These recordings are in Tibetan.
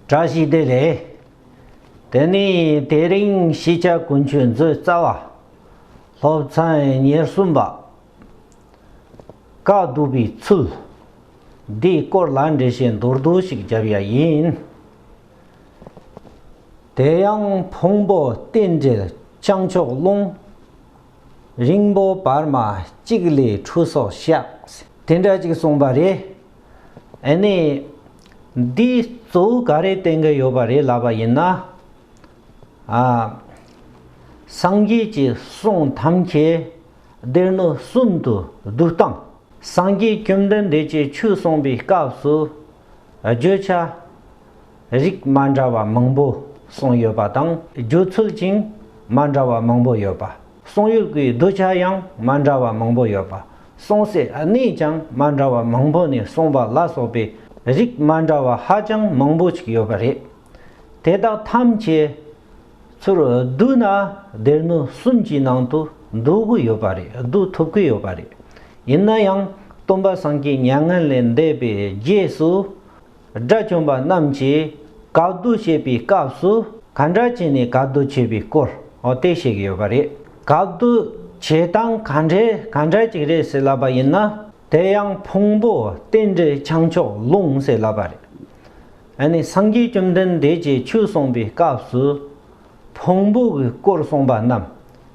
བཀྲ་ཤིས་བདེ་ལེགས། དེ་ནི་དེ་རིང་གཞིས་ཆགས་དགུན་ཆོས་མཛོད་རྩ་བ། སློབ་ཚན་ཉེར་གསུམ་པ། བཀའ་བསྡུ་བའི་ཚུལ། འདིའི་སྐོར་ལ་འགྲེལ་བཤད་མདོར་བསྡུས་ཤིག་བརྒྱབ་ཡ་ཡིན། དེ་ཡང་ཕུང་པོ་རྟེན་འབྲེལ་བྱང་ཕྱོགས་རླུང། རིང་པོ་བར་མ་གཅིག་ལས་འཁྲུལ་སོགས་བཤད། དེ་འདྲ་ཅིག་གསུངས་པ་རེད། ཨེ་ནས། འདིས་གཙོ་བོ་ག་རེའི་སྟེང་གི་ཡོད་པ་རེད་ལབ་པ་ཡིན་ན། ཨ། སངས་རྒྱས་ཀྱི་གསུང་ཐམས་ཅད་སྡེར་སྣོད་གསུམ་དུ་བསྡུ་སྟངས། སངས་རྒྱས་བཅོམ་ལྡན་འདས་ཀྱི་ཆོས་གསུངས་པའི་སྐབས་སུ་བརྗོད་བྱ་རིགས་མ་འདྲ་བ་མང་པོ་གསུངས་ཡོད་པ་དང། བརྗོད་ཚུལ་ཀྱང་མ་འདྲ་བ་མང་པོ་ཡོད་པ། གསུང་ཡུལ་གྱི་གདུལ་བྱ་ཡང་མ་འདྲ་བ་མང་པོ་ཡོད་པ། གསུང་སའི་གནས་ཀྱང་མ་འདྲ་བ་མང་པོ་ནས་གསུང་པ་ལ་སོགས་པའི་རིགས་མ་འདྲ་བ་ཧ་ཅང་མང་པོ་ཅིག་ཡོད་པ་རེད། དེ་དག་ཐམས་ཅད་ཚུར་བསྡུ་ན་སྡེར་མོ་གསུམ་གྱི་ནང་དུ་བསྡུ་གི་ཡོད་པ་རེད་བསྡུ་ཐུབ་ཀྱི་ཡོད་པ་རེད། ཡིན་ན་ཡང་སྟོན་པ་སངས་རྒྱས་མྱ་ངན་ལས་འདས་པའི་རྗེས་སུ། དགྲ་བཅོམ་པ་རྣམས་ཀྱིས་བཀའ་བསྡུ་བྱེད་པའི་སྐབས་སུ་ག་འདྲ་བྱས་ནས་བཀའ་བསྡུ་བྱེད་པའི་སྐོར་དེ་བཤད་ཀྱི་ཡོད་པ་རེད། བཀའ་བསྡུ་བྱེད་སྟངས་ག་འདྲས་ག་འདྲ་ཅིག་རེད་ཟེར་ལབ་པ་ཡིན་ན་དེ་ཡང་ཕུང་པོ་རྟེན་འབྲེལ་བྱང་ཕྱོགས་ལུང་ཟེར་ལབ་པ་རེད། ཨ་ནི་སངས་རྒྱས་བཅོམ་ལྡན་འདས་ཀྱིས་ཆོས་གསུངས་པའི་སྐབས་སུ་ཕུང་པོ་གི་སྐོར་གསུངས་པ་རྣམས་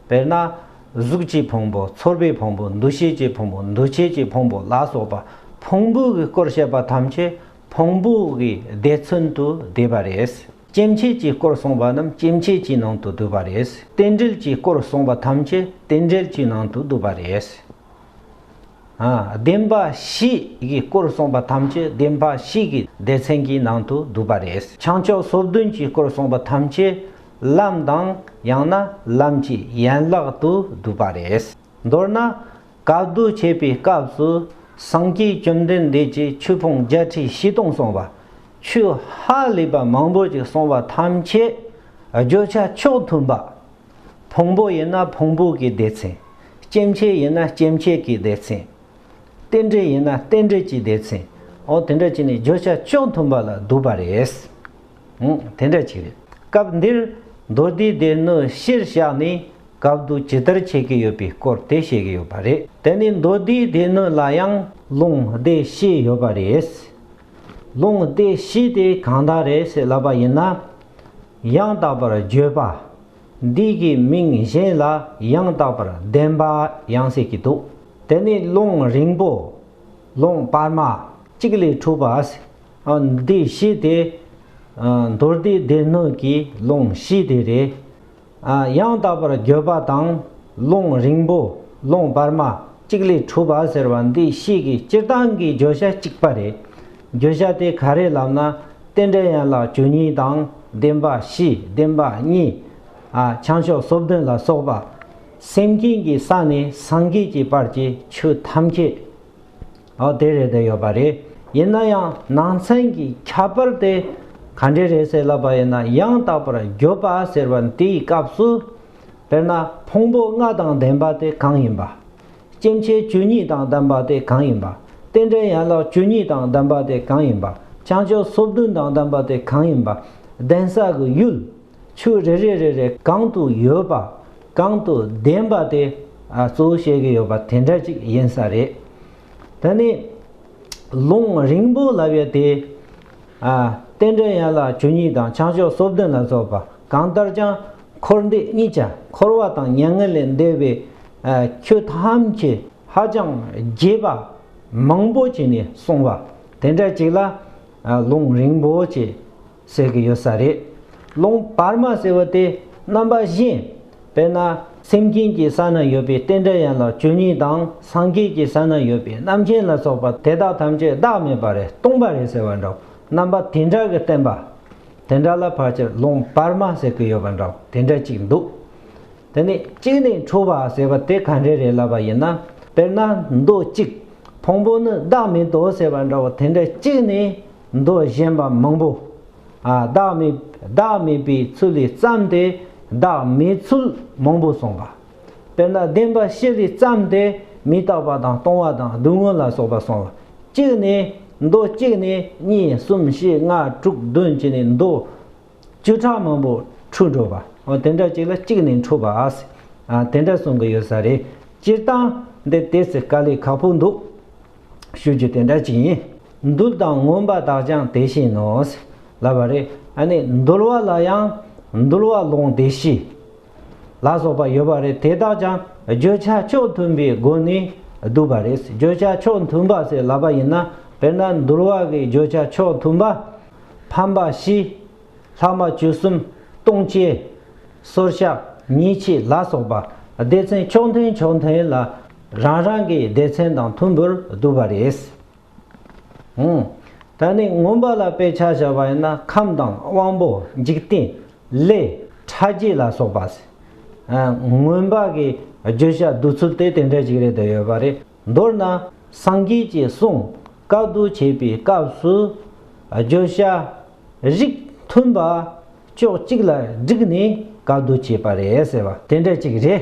དཔེར་ན། གཟུགས་ཀྱི་ཕུང་པོ་ཚོར་བའི་ཕུང་པོ་འདུ་ཤེས་ཀྱི་ཕུང་པོ་འདུ་བྱེད་ཀྱི་ཕུང་པོ་ལ་སོགས་པ་ཕུང་པོའི་སྐོར་བཤད་པ་ཐམས་ཅད་ཕུང་པོའི་བརྡས་མཚོན་དུ་བསྡུས་པ་རེད། སྐྱེ་མཆེད་ཀྱི་སྐོར་གསུངས་པ་རྣམས་སྐྱེ་མཆེད་ཀྱི་ནང་དུ་བསྡུས་པ་རེད། རྟེན་འབྲེལ་གྱི་སྐོར་གསུངས་པ་ཐམས་ཅད་རྟེན་འབྲེལ་གྱི་ནང་དུ་བསྡུས་པ་རེད། བདེན་པ་བཞི་ཡི་སྐོར་གསུངས་པ་ཐམས་ཅད་བདེན་པ་བཞི་ཡི་སྡེ་ཚན་གྱི་ནང་དུ་འདུ་བ་རེད། བྱང་ཕྱོགས་སོ་བདུན་གྱི་སྐོར་གསུངས་པ་ཐམས་ཅད་ལམ་དང་ཡང་ན་ལམ་གྱི་ཡན་ལག་ཏུ་འདུ་བ་རེད། མདོར་ན་བཀའ་བསྡུ་བྱེད་པའི་སྐབས་སུ་སངས་རྒྱས་བཅོམ་ལྡན་འདས་ཀྱིས་ཆོས་ཕུང་བརྒྱ་ཁྲི་བཞི་སྟོང་གསུངས་པ། ཆོས་ཧ་ལས་པ་མང་པོ་ཅིག་གསུངས་པ་ཐམས་ཅད་བརྗོད་བྱ་ཕྱོགས་མཐུན་པ་ཕུང་པོ་ཡིན་ན་ཕུང་པོ་གི་སྡེ་ཚན། སྐྱེ་མཆེད་ཡིན་ན་སྐྱེ་མཆེད་ཀྱི་སྡེ་ཚན། རྟེན་འབྲེལ་ཡིན་ན་རྟེན་འབྲེལ་གྱི་སྡེ་ཚན། འོ་དེ་འདྲ་བྱས་ནས་བརྗོད་བྱ་ཅུང་མཐུན་པ་ལ་བསྡུ་བ་རེད། འོ་དེ་འདྲ་བྱས་རེད། སྐབས་འདིར་མདོ་སྡེའི་སྡེ་སྣོད་གཞིར་བཞག་ནས་སྐབས་བསྡུ་ཇི་ལྟར་བྱེད་ཀྱི་ཡོད་པའི་སྐོར་དེ་བཤད་ཀྱི་ཡོད་པ་རེད། དེ་ནི་མདོ་སྡེའི་སྡེ་སྣོད་ལ་ཡང་ལུང་སྡེ་བཞི་ཡོད་པ་རེད། ལུང་སྡེ་བཞི་དེ་གང་དག་རེད་ཟེར་ལབ་པ་ཡིན་ན། ཡང་དག་པར་བརྗོད་པ། འདི་གི་མིང་གཞན་ལ་ཡང་དག་པར་བདེན་པ་ཡང་ཟེར་གྱི་འདུག་དེ་ནི་ཀློང་རིང་པོ། ཀློང་སྤར་མ། གཅིག་ལས་གྲུབ་པ། འདི་བཞི་དེ། མདོར་བསྡུས་སྡེ་སྣོད་ཀྱི་ཀློང་བཞི་དེ་རེད། ཡང་དག་པར་འགྱོད་པ་དང་རླུང་རིང་པོ་རླུང་བར་མ་གཅིག་ལས་གྲུབ་པ་ཟེར་བ་འདི་གཤིས་ཀྱི་སྤྱིར་བཏང་གི་བརྗོད་བྱ་གཅིག་པ་རེད། བརྗོད་བྱ་དེ་ག་རེ་ལབ་ན་རྟེན་འབྲེལ་ཡན་ལག་བཅུ་གཉིས་དང་བདེན་པ་བཞི་བདེན་པ་གཉིས། བྱང་ཕྱོགས་སོ་བདུན་ལ་སོགས་པ། སེམས་ཅན་གྱི་ས་ནས་སངས་རྒྱས་ཀྱི་བར་གྱི་ཆོས་ཐམས་ཅད། འོ་དེ་རེད་དེ་ཡོད་པ་རེད་ཡིན་ན་ཡང་ནང་ཚན་གྱི་ཁྱད་པར་དེ་ག་འདྲས་རེད་ཟེར་ལབ་པ་ཡིན་ན་ཡང་དག་པར་བརྗོད་པ་ཟེར་བ་འདིའི་སྐབས་སུ། དཔེར་ན་ཕུང་པོ་ལྔ་དང་ལྡན་པ་དེ་གང་ཡིན་པ། སྐྱེ་མཆེད་བཅུ་གཉིས་དང་ལྡན་པ་དེ་གང་ཡིན་པ། རྟེན་འབྲེལ་ཡན་ལག་བཅུ་གཉིས་དང་ལྡན་པ་དེ་གང་ཡིན་པ། བྱང་ཆུབ་སོ་བདུན་དང་ལྡན་པ་དེ་གང་ཡིན་པ། གདན་ས་གི་ཡུལ། ཆོས་རེ་རེ་རེ་རེ་གང་དུ་ཡོད་པ་གང་དུ་བདེན་པ་དེ་གཙོ་བོ་བཤད་ཀྱི་ཡོད་པ་དེ་འདྲ་ཅིག་ཡིན་ས་རེད། ད་ནི་ལུང་རིང་པོ་ལབ་ཡོད་དེ། རྟེན་འབྲེལ་ཡན་ལག་བཅུ་གཉིས་དང་བྱང་ཕྱོགས་སོ་བདུན་ལ་སོགས་པ་གང་ལྟར་ཀྱང་འཁོར་འདས་གཉིས་ཆ་འཁོར་བ་དང་མྱ་ངན་ལས་འདས་པའི་ཆོས་ཐམས་ཅད་ཧ་ཅང་རྒྱས་པ་མང་པོ་བྱས་ནས་གསུངས་པ་དེ་འདྲ་ཅིག་ལ་ལུང་རིང་པོ་བྱས་ཟེར་གྱི་ཡོད་ས་རེད། རླུང་བར་མ་ཟེར་བ་དེ་རྣམ་པ་བཞི། དཔེར་ན། སེམས་མཁྱེན་གྱི་ས་ན་ཡོད་པའི་རྟེན་འབྲེལ་ཡན་ལག་བཅུ་གཉིས་དང་སངས་རྒྱས་ཀྱི་ས་ན་ཡོད་པའི་རྣམ་མཁྱེན་ལ་སོགས་པ་དེ་དག་ཐམས་ཅད་བདག་མེད་པ་རེད་སྟོང་པ་རེད་ཟེར་བ་འདྲ་བོ་རྣམ་པ་དེ་འདྲ་གི་བསྟན་པ། དེ་འདྲ་ལ་ཕར་ཆེར་རླུང་བར་མ་ཟེར་གྱི་ཡོད་པ་འདྲ་བོ་དེ་འདྲ་གཅིག་འདུག་དེ་ནས་གཅིག་ནས་འཁྲུལ་བ་ཟེར་བ་དེ་ག་འདྲས་རེད་ལབ་པ་ཡིན་ན། དཔེར་ན་མདོ་གཅིག། ཕུང་པོ་ནི་བདག་མེད་དོ་ཟེར་བ་འདྲ་བོ་དེ་འདྲ་གཅིག་ནས། མདོ་གཞན་པ་མང་པོ། བདག་མེད་བདག་མེད་པའི་ཚུལ་ལས་བརྩམས་ཏེ་བདག་མེད་ཚུལ་མང་པོ་གསུངས་པ། དཔེར་ན་བདེན་པ་བཞི་ལས་བརྩམས་ཏེ་མི་རྟག་པ་དང་སྟོང་བ་དང་སྡུག་བསྔལ་ལ་སོགས་པ་གསུངས་པ། གཅིག་ནས་མདོ་གཅིག་ནས་གཉིས་གསུམ་བཞི་ལྔ་དྲུག་བདུན་ཅེས་ནས་མདོ། བཅུ་ཕྲག་མང་པོ་འཁྲུལ་འགྲོ་བ། དེ་འདྲ་གཅིག་ལ་གཅིག་ནས་འཁྲུལ་བ། དེ་འདྲ་གསུང་གི་ཡོད་ས་རེད། སྤྱིར་བཏང་འདི་དེ་ཚེ་དཀའ་ལས་ཁག་པོ་འདུག། ཤུལ་གྱི་དེ་འདྲ་ཅིག་ཡིན། འདུལ་དང་མངོན་པ་དག་ཀྱང་དེ་བཞིན་ནོ། ལབ་པ་རེད། ཨ་ནི་འདུལ་བ་ལ་ཡང་འདུལ་བ་ལོང་སྡེ་བཞི། ལ་སོགས་པ་ཡོད་པ་རེད་དེ་དག་ཀྱང་བརྗོད་བྱ་ཕྱོགས་མཐུན་པའི་སྒོ་ནས་བསྡུས་པ་རེད་བརྗོད་བྱ་ཕྱོགས་མཐུན་པ་ཟེར་ལབ་པ་ཡིན་ན་དཔེར་ན་འདུལ་བ་གི་བརྗོད་བྱ་ཕྱོགས་མཐུན་པ། ཕམ་པ་བཞི། ལྷག་མ་བཅུ་གསུམ། ལྟུང་བྱེད། སོར་བཤགས་ཉེས་བྱས་ལ་སོགས་པ་སྡེ་ཚན་ཕྱོགས་མཐུན་ཕྱོགས་མཐུན་ལ། རང་རང་གི་སྡེ་ཚན་དང་མཐུན་པར་བསྡུ་བ་རེད། ད་ནི་མངོན་པ་ལ་དཔེ་ཆ་བཞག་པ་ཡིན་ན་ཁམས་དང་དབང་པོ་འཇིག་རྟེན་ལས་ཕྲ་རྒྱས་ལ་སོགས་པ། མངོན་པ་གི་བརྗོད་བྱ་བསྡུ་ཚུལ་དེ་དེ་འདྲ་ཞིག་རེད་འདོད་ཡོད་པ་རེད། མདོར་ན་སངས་རྒྱས་ཀྱི་གསུང་བཀའ་བསྡུ་བྱེད་པའི་སྐབས་སུ་བརྗོད་བྱ་རིགས་མཐུན་པ་ཕྱོགས་གཅིག་ལ་བསྒྲིགས་ནས་བཀའ་བསྡུ་བྱེད་པ་རེད་ཟེར་བ་དེ་འདྲ་ཅིག་རེད།